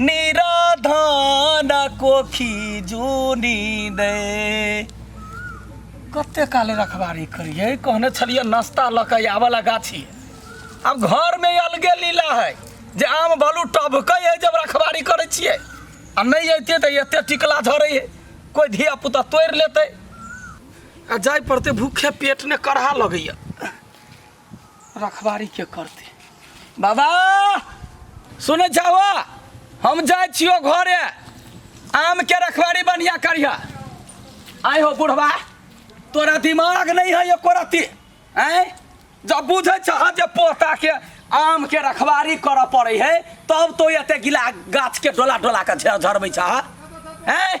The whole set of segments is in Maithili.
निराधान कोखी जूनी दे कते काले रखबारी करिए कहने छलिए नाश्ता लऽ कऽ आबऽला गाछी आब घरमे अलगे लीला है जे आम बालू टभकै है जब रखबारी करै छियै आ नहि अइतै तऽ एते टिकला झरै है कोइ धिया पुता तोड़ि लेतै आ जाय पड़तै भूखे पेट ने करहा लगैया रखबारी के करते बाबा सुनै छहो हम जाइ छियो घरे आम के रखबारी बढ़िया करिह आय हो बुढ़वा तोरा दिमाग नहीं है एको रति आय जब बुझे छह जे पोता के आम के रखबारी करऽ पड़े है तब तो एते गिला गाछ के डोला डोला के झ- झड़बै छह हैं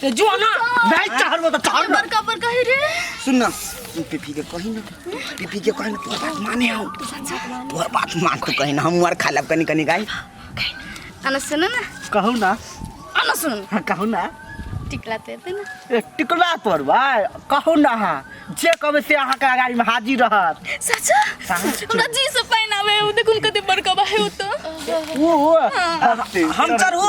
ते जो ना भाई चाहर वो तो चाहर ना बड़का बड़का है रे सुन ना तू पीपी के कही ना पीपी के कही ना तोर बात माने हम तोर बात मान तू कही ना हम और खा लब कनी कनी गाय अन सुन ना कहू ना अन सुन हाँ, कहू ना टिकला ते दे ना ए, टिकला तोर भाई कहू ना हाँ जे कबे से अहाँ के अगाड़ी में हाजिर रहत सचा सच। हमरा जी से पहनावे उ देखुन कते बड़का बा है उ तो ओ ओ हम चढ़ू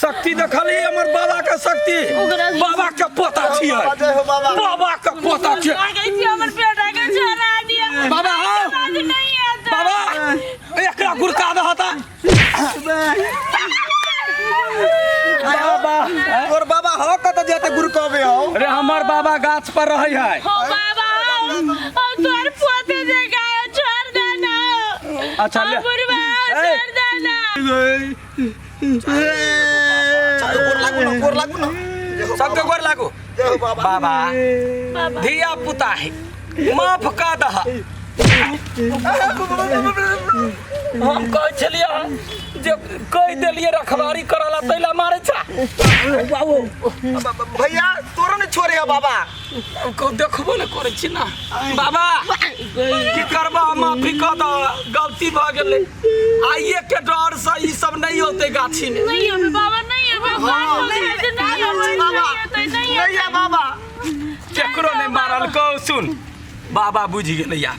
शक्ति देखली हमर बाबा के शक्ति बाबा के पोता छियै बाबा के पोता छियै बाबा हौ बाबा एकरा गुरका दह त बाबा तोर बाबा हो कत जाते गुरु कहबे हो रे हमर बाबा गाछ पर रहै है अच्छा ले चालू गोर लागू ना गोर लागू ना सबके गोर लागू जय हो बाबा बाबा बाबा धिया पुता है माफ का दह हम कहै छलियै हँ जे कहि देलियै रखवारी करऽ ला तै ला मारै छा बाबू भैया तोरा ने छोड़े हो बाबा को देखबो ने करै छी ना बाबा की करबा हम माफी कऽ दऽ गलती भऽ गेलै आइए के डर से ई सब नहि होतै गाछी में नहीं अबे बाबा नहीं अबे हाँ, बाबा नहीं नहीं अबे, नहीं अबे, नहीं बाबा अबे, नहीं अबे। नैया बाबा केकरो नहि मारल कौ सुन बाबा बुझि गेलै यार